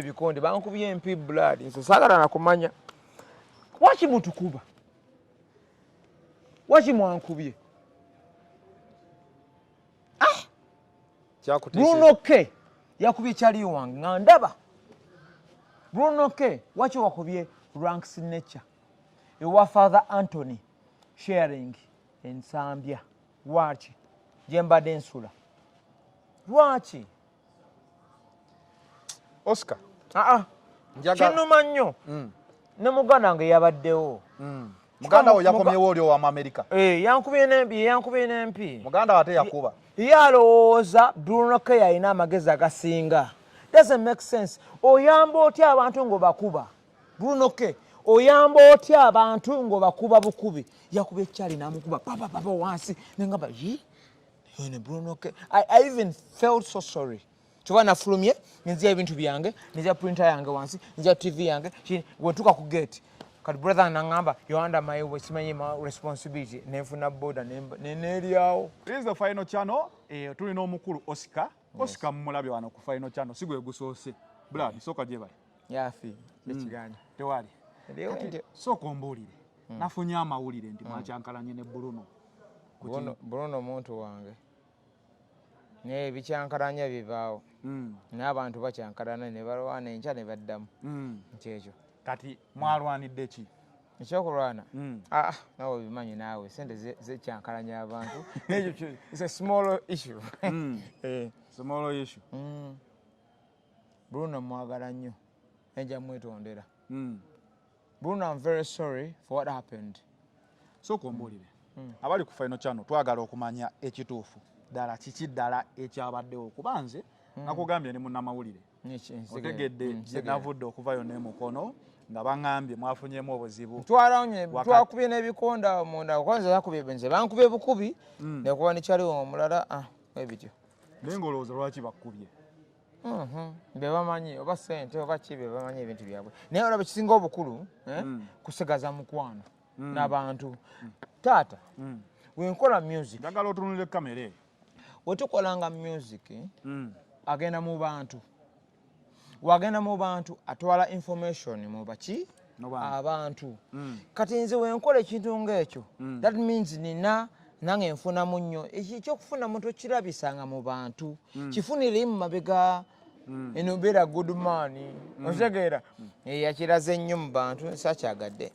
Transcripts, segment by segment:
ebikonde bankubye empi blood nze sagala nakumanya waki mutukuba waki mwankubye ah! bruno k yakubye kyaliyo wange nga ndaba bruno k waki wakubye rank signature ewa father antony sharing ensambya lwaki gyembadde nsula lwaki oscar aa ah, ah. njaga kinuma nnyo mm. ne muganda nge yabaddewo mm. muganda wo yakomyewo oli owa america eh yankubye nempi yankubye nempi muganda wate yakuba yalowooza bruno ke yalina amagezi agasinga doesn't make sense oyamba otya abantu ngobakuba bruno ke oyamba otya abantu ngobakuba bukubi yakuba ekyali namukuba papa papa wansi nengamba yi Yone Bruno K. I, I even felt so sorry. Tuba na fulumye, nizia ibintu biyange, nizia printer yange wansi, nizia TV yange, chini, wetuka ku gate. Kati brother anangamba, you're under my way, simanyi ma responsibility, nefu na boda, neneri yao. This is the final channel, eh, tuli no mukuru Oscar. Oscar yes. mmulabi wana ku final channel, sigu egusosi. Blood, yes. soka jebali. yafi hmm. ekiganja tewali sooka ombuulire hmm. nafunye amawulire nti hmm. mwakyankalanye ne bruno bruno muntu wange naye bikyankalanya bibaawo n'abantu bakyankalana ne balwana enkya ne baddamu nkyekyo kati mwalwanidde ki ekyokulwana hmm. ah, ah, nawe obimanyi naawe sente zekyankalanya abantu ekyo small issue hmm. eh. small issue hmm. Bruno mwagala nnyo naye nja mwetondera hmm. Bruno I'm very sorry for what happened so kuombolire hmm. abali ku final channel twagala okumanya ekituufu ddala kiki ddala ekyabaddewo kuba nze hmm. nakugambye ne munnamawulire otegedde navudde okuvayo ne mukono nga baŋambye mwafunyemu obuzibu twalawunye twakubye n'ebikonda munda kwanza yakubye benze bankubye bukubi nekuba nekyaliwo omulala ah. ebityo naye nga olowooza lwaki bakkubye mhm. bebamanyi oba sente oba ki bebamanyi ebintu byabwe naye olaba ekisinga obukulu eh, mm. kusigaza mukwano mm. nabantu mm. taata wenkola music njagala otunulire kamere wetukolanga music agenda mu bantu wagenda mu bantu atwala information mu baki abantu mm. kati nze wenkola ekintu ngaekyo mm. that means nina nange nfunamu nnyo ekyokufunamu tokirabisanga mu bantu mm. kifunire mu mabega Mm. eno beera good man mm. okitegeera mm. eh, yakiraze ennyo mu bantu sakyagadde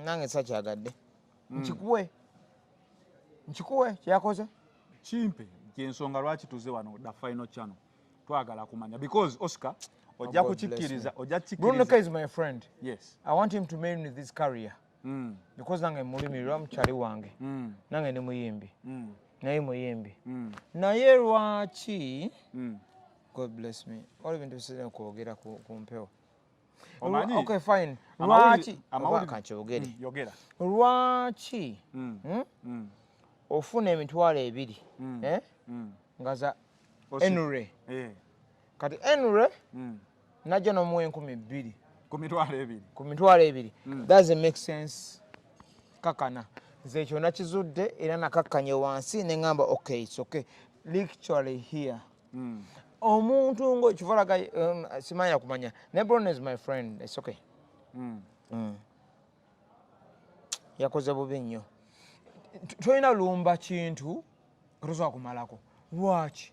nange sakyagadde nkikuwe nkikuwe kyakoze kimpe kyensonga lwaki tuze wano da final channel twagala kumanya because oscar oh, ojja kukikkiriza ojja kukikkiriza is my friend yes i want him to main with his career mm. because nange mulimirwa mukyali wange mm. nange ni muyimbi mm. naye muyimbi mm. naye lwaki mm. god bless me waliwo bintu bisirina kwogera ku mpewo omanyi okay fine lwaki amawulire kankyogere mm, yogera lwaki mm. Hmm? Mm. ofuna emitwalo ebiri mm. eh? mm. nga za enure eh. kati enure mm. najja nomuwa enkumi bbiri ku mitwalo ebiri ku mitwalo ebiri mm. thats make sense kakana nze ekyo nakizudde era nakakkanye wansi ne ŋamba okay it's okay literally here mm. omuntu ngo kivolaga um, simanya kumanya ne bron is my friend it's okay mm. Mm. yakoze bubi nnyo tolina lumba kintu tosobola kumalako lwaki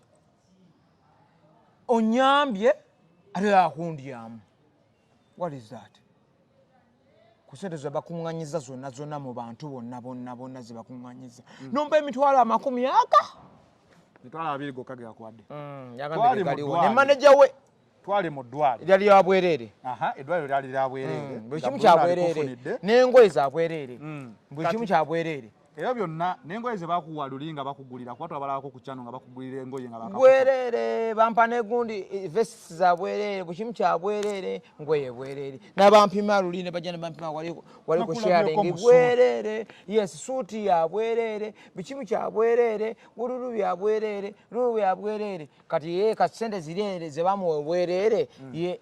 onyambye ate akundyamu what is that kusente zebakunganyiza zona zona mu bantu bonna bonna bonna zebakunganyiza mm. nomba emitwalo amakumi aga mitwalo abiri gokka geyakwade mm, ne maneja we twali mu ddwaliro lyali lya bwereere eddwaliro lyali lya bwereere mm, buli kimu kya bwereere n'engoye za bwereere buli kimu kya bwereere Ebyo byonna n'engoye ze bakuwa luli nga bakugulira kuba twabalabako ku kyano nga bakugulira engoye nga baka bwereere bampa n'egundi eh, vests za bwereere buli kimu kya bwereere ngoye bwereere n'abampima luli ne bajja ne bampima wali wali ku sharing bwereere yes suuti ya bwereere buli kimu kya bwereere bululu bya bwereere lulu bya bwereere kati ye ka ssente zireere ze bamuwa obwereere mm. ye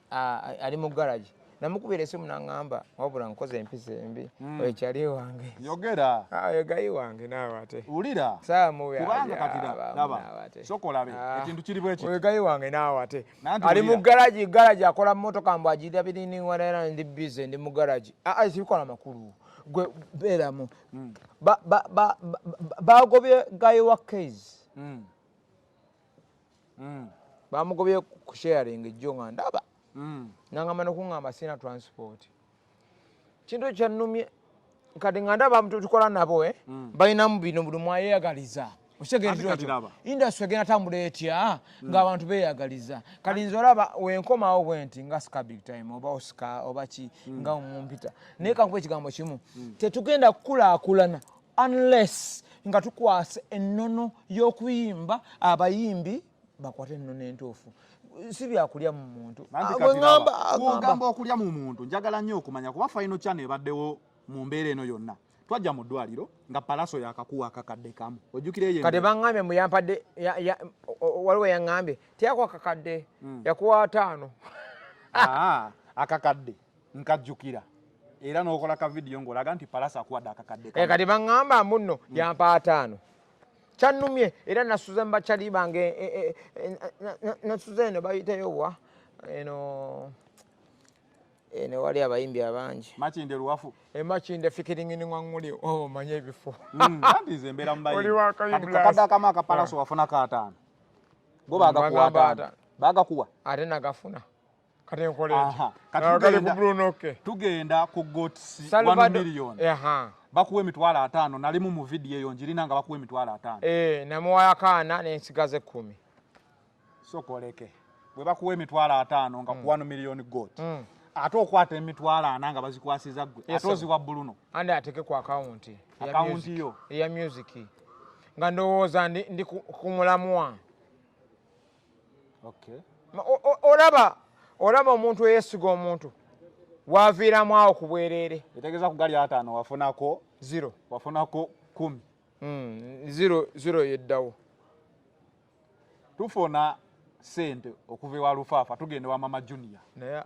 ali mu garagi namukubira esimu nangamba wabula nkoze empisa embi mm. ekyali wange yogera ah, yogayi wange nawe ate wulira kubanga katiraba sokolabe ah. ekintu kiri bweki yogayi wange nawe ate ali mu garaji garaji akola motoka mbu ajirira biriniwanera ndi bize ndi mu garaji aa ah, sibikola makulu gwe beeramu mm. bagobye gayi wa kaizi mm. mm. bamugobye ku sharing ejjo nga ndaba mm. nangamba nokuŋamba sina transport kintu ekyannumye kati nga ndaba tukola nabo eh? mm. balinamu bino buli mwayeyagaliza okitegeriroekyo industry egenda tambula etya mm. ngaabantu beyagaliza kati nze olaba wenkomawo bwenti nga sika big time oba osika oba ki mm. nga omumpita naye kankuba ekigambo kimu mm. tetugenda kukulakulana unless nga tukwasa ennono y'okuyimba abayimbi bakwate ennono entuufu si byakulya mu muntu ogamba okulya mu muntu njagala nnyo okumanya kuba faino kyano ebaddewo mu mbeera eno yonna twajja mu ddwaliro nga palaso yakakuwa akakadde kamu ojukireyekade baŋambye mu yampadde waliwo yaŋambye teyakuwa kakadde hmm. yakuwa ataano ah, akakadde nkajjukira era n'okola ka vidiyo ng'olaga nti palasa akuwadde akakadde eh, kati baŋŋamba munno hmm. yampa ataano kyannumye era nasuze mubakyali bange eh, eh, nasuze eno bayiteyo wa eno eno wali abayimbi abangi makinde luwafu emakinde fikiringiningwaŋuli omanya oh, ebifo hmm, andize embeera mubayimbiakakadde akamu akapalasa ah. wafunako ataano bo bagakuwa ataano bagakuwa ate nagafuna tugenda ku gotmillion bakuwa emitwalo ataano nalimu mu vidiyo eyo njirina nga bakuwa emitwalo ataano eh, namuwayo akaana nensigaza ekkumi sokoleke bwe bakuwa emitwalo ataano nga kuwano mm. miliyoni got mm. ate okwata emitwalo ana nga bazikwasiza gwe ate oziwa buluno andi ateke ku akawunti akawunti yo eya musiki nga ndowooza ndi ku mulamwa olaba olaba omuntu eyesiga omuntu waviiramu awo ku bwereere etegeeza ku gali ataano wafunako zero wafunako kumi hmm, zero zero yeddawo tufuna sente okuva ewa lufaafa tugenda wa mama junior naye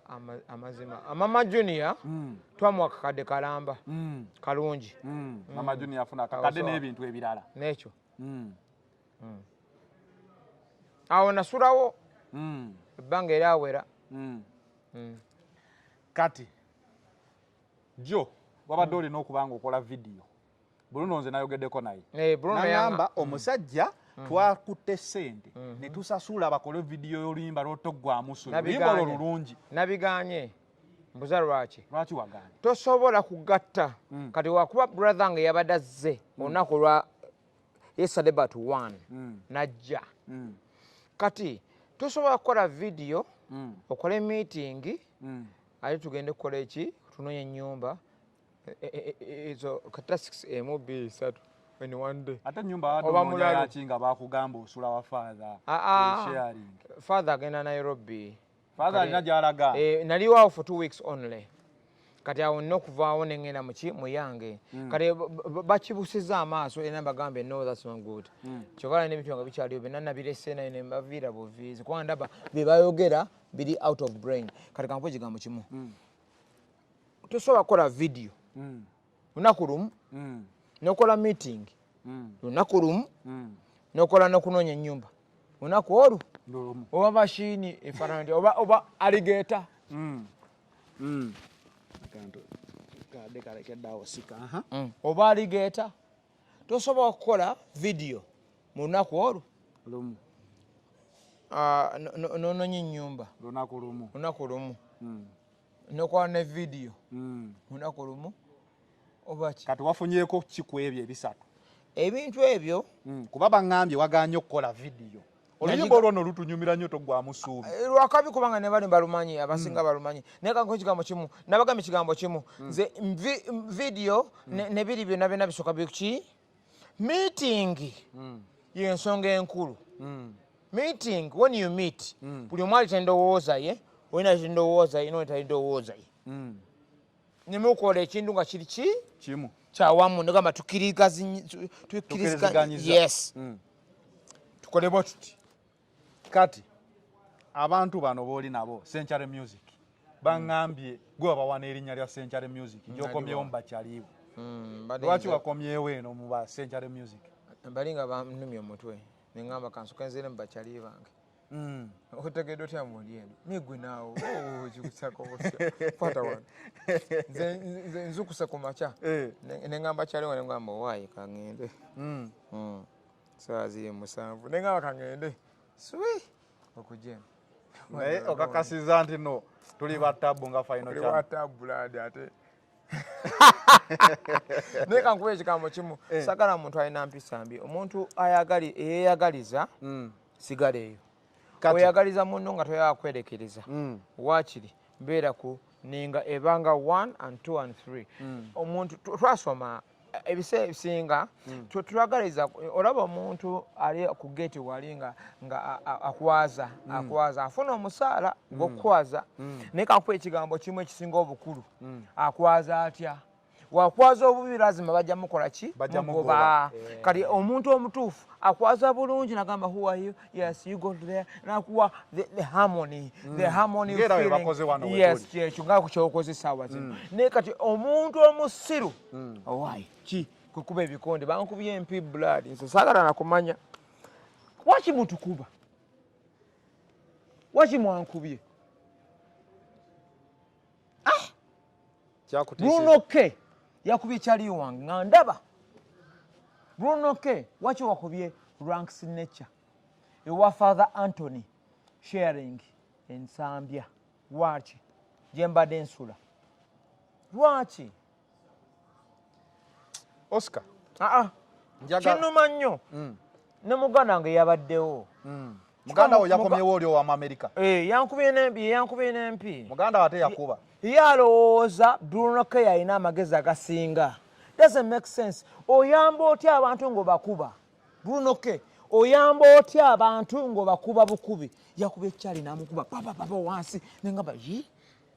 amazima mama junior mm. twamuwa kakadde kalamba mm. kalungi mm. mama junior afuna kakadde n'ebintu ebirala nekyo hmm. awo nasulawo hmm. ebbanga era awera hmm. kati jo wabadde olina okuba nga okola vidiyo bruno nze nayogeddeko naye eh, nagamba omusajja Mm-hmm. twakutte sente mm-hmm. netusasula bakole vidiyo yoluyimba lwotoggwamusuluyimba olwo lulungi nabiganye mbuza lwaki lwaki waganye tosobola kugatta mm. kati wakuba brother nga yabadde azze mm. olunaku lwa yesterday but one mm. najja mm. kati tosobola kukola vidiyo mm. okole miitingi mm. ate tugende kukola eki tunonye enyumba e, e, e, ezo kata six emu bbiri isatu ate nyumbaobamulayaki nga bakugamba osula wa father ah, ah. father agenda nairobi father alina gyalaga eh, naliwo awo for two weeks only kati awo nina okuvaawo nengenda muki muyange mm. kati bakibusiza amaaso era bagambe no thats not good mm. kyovala nebintu nga bikyaliwo byonna nabirese naye nebaviira buviizi kuba ndaba byebayogera biri out of brain kati kankuba ekigambo kimu mm. tosobola kukola vidiyo lunaku lumu mm. nokola meeting mm. lunaku lumu mm. nokola nokunoonya enyumba lunaku olwo oba mashini efananti oba oba aligeta mm. mm. mm. oba aligeta tosobola kukola vidiyo mu lunaku olwo lumu ah, nononya enyumba lunaku lumu lunaku lumu mm. nokola ne vidiyo hmm. lunaku lumu obaki kati wafunyeko kiku ebyo ebisatu ebintu ebyo hmm, kuba baŋambye waganye okukola vidiyo oluyimba olwono lutunyumira nyo togwamu suubi eh, lwakabi kubanga nebali balumanyi abasinga hmm. balumanyi naye kanko ekigambo kimu nabagambye ekigambo kimu nze vidiyo nebiri byona byona bisoka biki miitingi mm. yensonga enkulu mm. meeting when you meet mm. buli omu alita endowooza ye olina alita endowooza ye noleta endowooza ye mm. nemukola ekintu nga kiri ki kimu kyawamu negamba tukirigazi tukiriziganyiza yes mm. tukole bwe tuti kati abantu bano boli nabo century music bangambye gwe wabawana erinnya lya century music gyokomyewo mubakyaliiwo hmm, lwaki wakomyewo eno mu ba century music bali nga banumya omutwe neŋamba kansoka nzire mu bakyaliiwo bange hmm. otegedde otya mundi eno nigwe naawo oh, kikusako kwata wano nze nzukuse ku makya eh. neŋamba kyaliwo neŋamba owaayi kangende hmm. Sawa ziri musanvu. Nenga wakangende. Sui. Okuje. Naye okakasiza nti no tuli ba tabu nga final channel. Tuli ba tabu ladi ate. Naye kankuwe ekigambo kimu. Eh. Sagala muntu alina mpisa mbi. Omuntu ayagali eyeyagaliza mm. sigala eyo. Oyagaliza munno nga toyagala kwerekereza. Mm. Wakiri beera ku ninga ebanga 1 and 2 and 3. Mm. Omuntu twasoma ebiseera ebisinga hmm. twagaliza olaba omuntu ali ku geeti wali nga akwaza hmm. akwaza afuna omusaala hmm. gwokukwaza naye kakuba ekigambo kimu ekisinga obukulu akwaza atya wakwaza obubi lazima bajja mukola ki bajamugoba eh. kati omuntu omutuufu akwaza bulungi nagamba huwayo yes you go to there nakuwa the, the harmony mm. the harmony feeling yes kyekyo nga kukyokoze sawa zino mm. naye kati omuntu omusiru mm. owai ki kukuba ebikonde bankubye empi blood nze sagala nakumanya waki mutukuba waki mwankubye ah! bruno k yakubye kyaliyo wange nga ndaba bruno k waki wakubye rank signature ewa father antony sharing ensambya lwaki gyembadde nsula lwaki oscar ah, ah. kinuma nnyo mm. ne muganda nge yabaddewo mm. muganda wo yakomyewo oli owa muamerika eh, yankubye nempi muganda wate yakuba ye alowooza brunoke yalina amagezi agasinga doesn't make sense oyamba otya abantu ngaobakuba brunoke oyamba otya abantu ngaobakuba bukubi yakuba ekyali namukuba papapapa wansi nengamba yi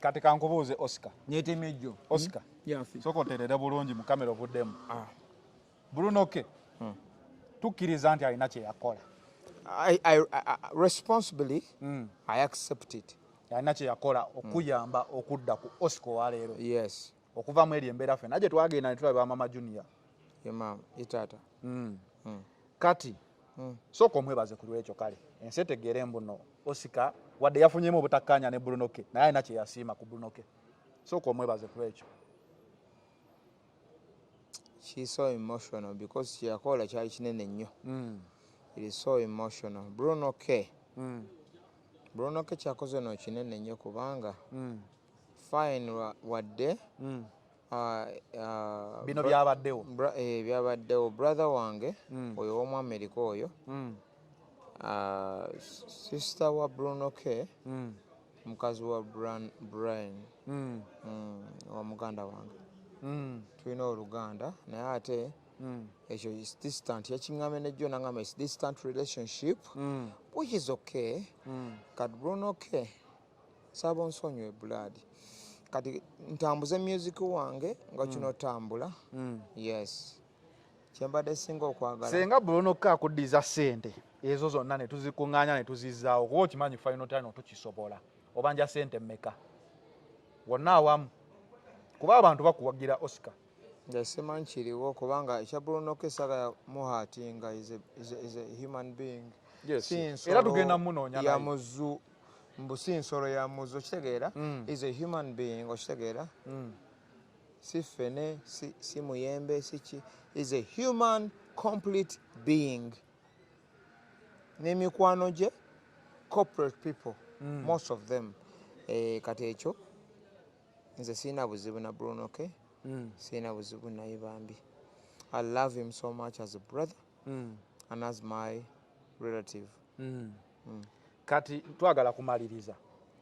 kati kankubuuze oscar nyetemejjo oscar hmm? soka oterere bulungi mu kamera ovuddemu ah. brunoke hmm. tukkiriza nti alina kyeyakola responsibly hmm. i accept it alina kyeyakola okuyamba okudda ku oscar waleero yes okuva mu eryo embeera fena gye twagenda ne tulaba mama junior yemaama itaata mm. mm. kati mm. sooka omwebaze ku lwekyo kale ensi etegeere mbuno osika wadde yafunyemu obutakkaanya ne brunoke naye alina kye yasiima ku brunoke sooka omwebaze ku lwekyo she so emotional because kyeyakola kyali kinene nnyo mm. it is so emotional brunoke mm. brunoke kyakoze no kinene nnyo kubanga mm. fine wadde mm. uh, uh, bino byabaddewo eh, byabaddewo brother wange mm. oyo mm. womu amerika oyo mm. uh, sister wa bruno k mm. mukazi wa brian, brian. Mm. Mm. wa muganda wange mm. tulina oluganda naye ate mm. ekyo is distant yakiŋame nejjo naŋama is distant relationship mm. which is okay mm. kat bruno k Saba onsonyiwe blood. Kati ntambuze music wange nga kino mm. tambula. Mm. Yes. Kyembadde singa okwagala. Senga bulono ka kudiza sente. Ezo zonna ne tuzikunganya ne tuzizaawo. Kuba okimanyi final time tukisobola. Obanja sente mmeka? Wonna awamu. Kuba abantu bakuwagira Oscar. Nze simanyi kiriwo kubanga ekya Bruno Kisaka muhatinga is a, is a, is a human being. Yes. Era tugenda munoonya naye. Ya muzu mbu si nsolo ya muzi okitegeera mm. is a human being okitegeera mm. si fene si, si muyembe siki is a human complete being n'emikwano gye corporate people mm. most of them e, kati ekyo nze sirina buzibu na bruno ke mm. sirina buzibu naye bambi i love him so much as a brother mm. and as my relative mm. mm. kati twagala kumaliriza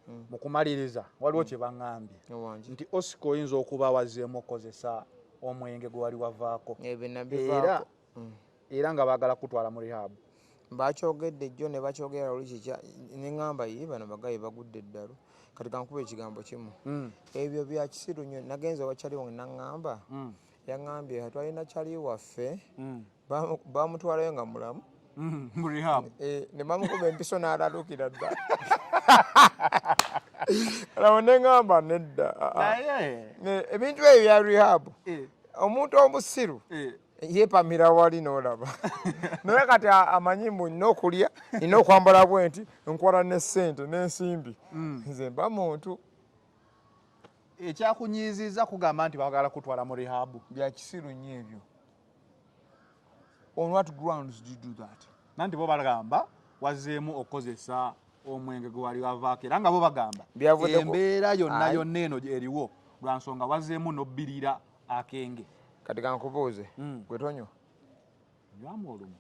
mm. mu kumaliriza waliwo mm. kye baŋambye nti osika oyinza okuba wazeemu okukozesa omwenge gwe wali wavaako era mm. era nga baagala kutwala mu rihabu bakyogedde jjo ne bakyogera luli kikya ne ŋamba ye bano bagaye bagudde eddalu kati kankuba ekigambo kimu mm. ebyo byakisiru nyo nagenza wakyali wange naŋamba mm. Yangambye twalina cali waffe mm. bamutwalayo nga mulamu mm, mu rehab eh, ne bamukuba empiso n'alalukira dda laba ne ngamba nedda ah, ah. eh, ebintu ebyo bya rehab eh. omuntu omusiru yepamira wali nolaba naye kati amanyi mbu nina okulya nina okwambala bwenti nkwala ne sente nensimbi mm. nze mba muntu ekyakunyiizizza kugamba nti bagala kutwala mu rihabu byakisiru nnyo ebyo on what grounds do you do that nanti bo bagamba wazzeemu okukozesa omwenge gwe wali wavaako era nga bo bagamba embeera yonna yonna eno eriwo lwa nsonga wazzeemu nobbirira akenge kati kankubuuze hmm. gwetonywa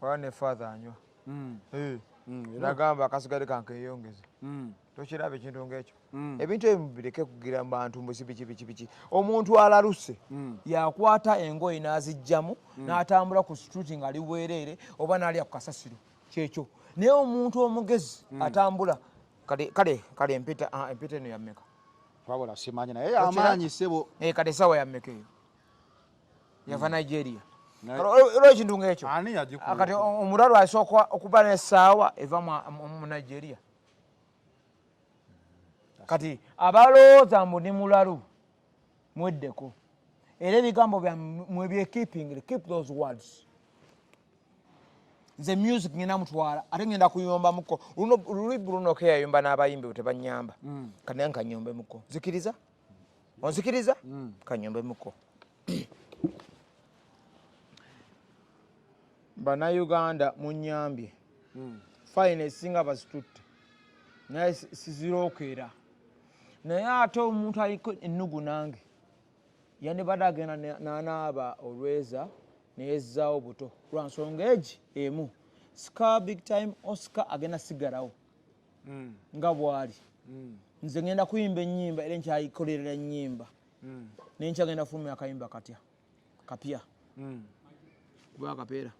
wala ne father anywa mm. eh. mm, nagamba akasigale kankeyongeze mm. tokiraba ekintu ngaekyo ebintu ebyo mubireke kugira mubantu mbusi biki biki biki omuntu alaluse yakwata engoye n'azijjamu n'atambula ku situti ngaali bwereere oba n'alya ku kasasiro kyekyo naye omuntu omugezi atambula kale kale kale empeta ah, empeta eno yammeka wabula simanyi naye amaanyi sebo eh, kale esawa yammeka eyo yava mm. nigeria olwo ekintu ngaekyo kati omulwalu asooka okuba nesaawa eva mu nigeria kati abalowooza mbu ni mulalu mweddeko era ebigambo byamwe byekeeping keep those words nze music ngenda mutwala ate ngenda kuyombamuko lulibulunoke yayomba n'abayimbi bwe tebanyamba mm. kanaye nkanyombemuko zikiriza mm. onzikiriza mm. kanyombe muko banauganda munyambye mm. fine esinga bazitutte naye sizirokeera naye ate omuntu aliko ennugu nange yandibadde agenda nanaaba olweza neyezzaawo buto lwansonga egi emu sika big time osika agenda sigalawo mm. nga bwali mm. nze ngenda kuyimba enyimba era nkyayikolerera enyimba mm. naye nkyagenda fulumya akayimba katya kapya mm. kuba akapeera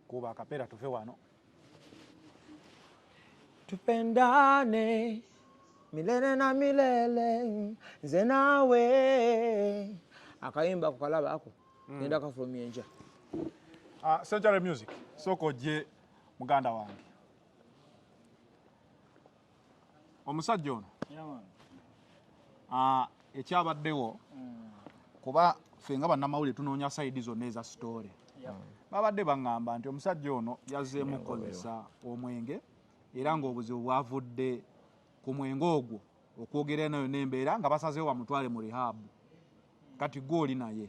kuba akapeera tuve wano tupendane milele na milele nze nawe akayimba ako kalaba ako mm. ngenda mm. kafulumya enja uh, ah, century music soko je muganda wange omusajja ono ah, ekyabaddewo mm. kuba ffe nga bannamawulire tunoonya sayidi zonna eza sitoole babadde baŋŋamba nti omusajja ono yazzeemu okukozesa omwenge era ng'obuzibu bwavudde ku mwenge ogwo okwogera nayo n'embeera nga basazeewo bamutwale mu rihabu kati gwe oli naye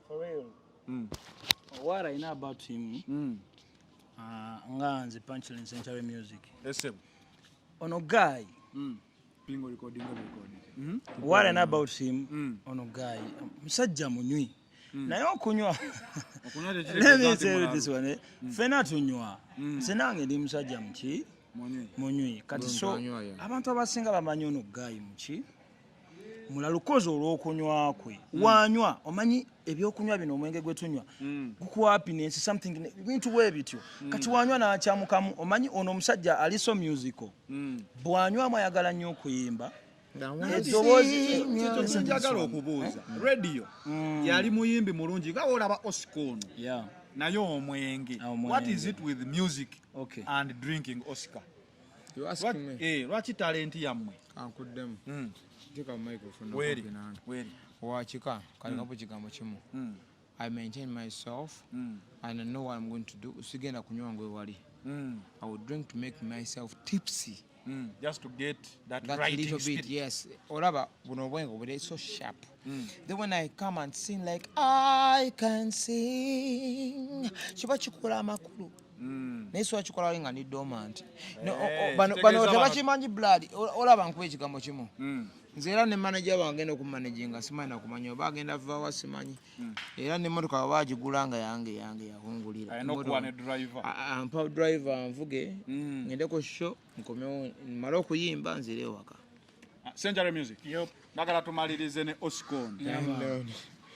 For real. Mm. What I know about him. Mm. Uh, nga nze punchline century music. Esem. Ono guy. Mm. Pingo recording recording. Mm. What I know about him. Mm. Ono guy. Musajja munywi. Mm. naye okunywa lemesetiswane eh? mm. fena tunywa mm. senange ndi musajja muki munywi kati so abantu abasinga bamanyi ono guy muki mulalukozi olwokunywa kwe hmm. wanywa omanyi ebyokunywa bino omwenge gwetunywa hmm. gukuapinensi something bintu webityo hmm. kati wanywa nakyamukamu omanyi ono omusajja aliso musical bwanywamu ayagala nnyo okuyimba eddoboozikyagala okubuuza eh? radio yali muyimbi mulungi nga olaba osika ono naye omwenge ah, what is it with music and drinking oscar Eh, lwaki talenti yammwe kankuddemu hmm. wakika kalina hmm. ku kigambo kimu hmm. i maintain myself and i know what i'm going to do sigenda kunywa ngu ewali i will drink to make myself tipsy just to get that, that right little bit yes olaba buno obwengo buli so sharp Mm. Then when I come and sing like I can sing kiba kikola amakulu mm. naye siwa kikola wali nga ni dormant eh, bano tebakimanyi blood olaba nkuba ekigambo kimu mm. nze era ne manaja wange agenda okumanaginga simanyi nakumanya oba agenda vawa simanyi hmm. era nemotoka baba agigula nga yange yange yahungulira ampa driver nvuge hmm. ngendeko sho nkomewo male okuyimba nzire ewaka Ah, Century Music. Yep. Nagala tumalirize ne Oscon.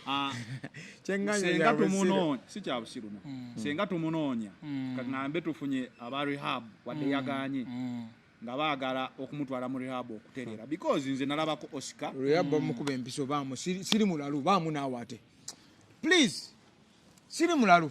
Ah, senga tumunonya si kya busiru no mm. senga tumunonya mm. kang'ambe tufunye aba rehab wadde mm. yaganye mm. nga baagala okumutwala mu rehab okutereera hmm. because nze nalabako oscar rehab bamukuba mm. empiso bamu siri mulalu bamu naawo ate please siri mulalu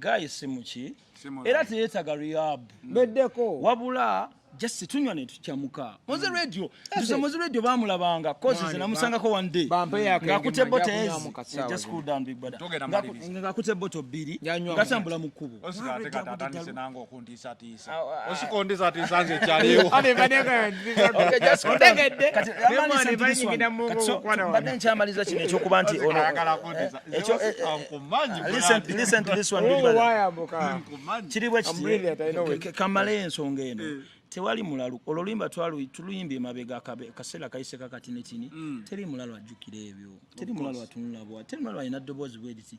guy simuki era teyetaga rehab mm. beddeko wabula just tunywa ne tukyamuka moze mm. radio tuze moze radio bamulabanga cause zina musanga ko one day nga kute bote ez eh, just cool down big brother nga kute bote biri nga tambula mukubo mbadde nkyamaliza kino ekyokuba nti kiri bwekiti kamale ensonga eno eh. tewali mulalu olwo luyimba tuluyimbye emabega kaseera kayise kakati netini mm. teri mulalu ajjukira ebyo teri mulalu atunulabwa teri mulalu alina ddoboozi bweriti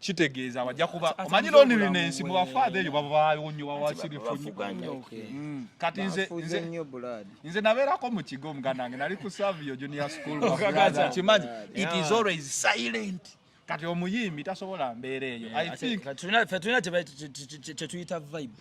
kitegeeza bajja kuba omanyi loneliness mu bafaadha eyo babaawo nnyo bawasirifu nnyo mm. kati nze nze nabeerako mu kigo omuganda wange nali ku savio junior school kimanyi it is always silent kati omuyimbi tasobola mbeera eyo i think tulina kyetuyita vibe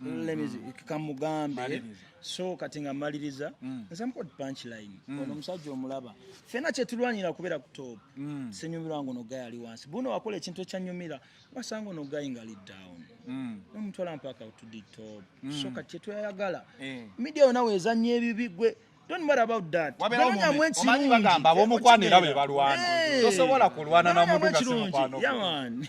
Mm, mm. kamugambe so kati nga maliriza mm. nsamukod punchline ono omusajja omulaba fena kyetulwanira kubeera ku top senyumirwa nga ono gayi ali wansi buno wakola ekintu ekyanyumira wasanga ono gayi nga ali down nomutwala mpaka utudi top so kati kyetweyayagala eh. midia yona wezanya ebibi gwe Don't worry about that. Wabera omumanyi omanyi bagamba abomukwano era be balwana. Tosobola kulwana na muntu nga si mukwano. Yaman.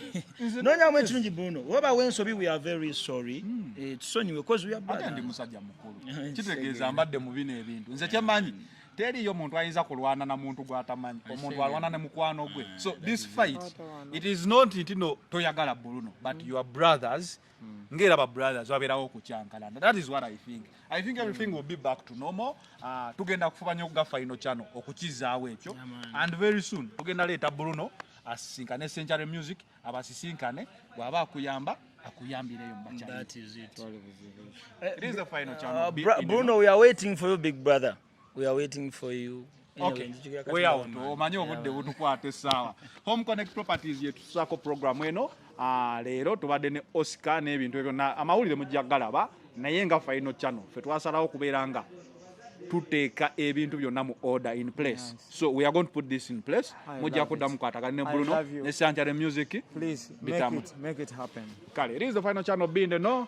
Nonya mwe kirungi Bruno. Waba wensobi we are very sorry. Hmm. Eh tusonyiwe because we are bad. Ndi musajja mukulu. Kitegeeza mbadde mu bino ebintu. Nze kyemanyi. Hmm. teriyo muntu ayinza kulwana na muntu gwatamanyi omuntu alwana ne mukwano gwe ah, so this fight it is not ntino toyagala buluno but your brothers mm. ngera ba brothers waberawo kuchankalanda that is what i think i think everything mm. will be back to normal uh, tugenda kufubanya okuga final channel okukizaawo ekyo yeah, and very soon tugenda leeta bruno asisinkane century music abasisinkane bwaba akuyamba akuyambireyo mubachanbruno eh, we are waiting for you big brother We are waiting for you. Okay. We out. Omanyi obudde butukwata essaawa. Home Connect Properties yetusaako program eno. Ah, leero tubadde ne Oscar n'ebintu ebyo na amawulire mujja galaba naye nga final channel ffe twasalawo okubeera nga tuteeka ebintu byonna mu order in place so we are going to put this in place mujja kudda mukwatagana ne bruno ne sancare music bitamu kale it is the final channel binde no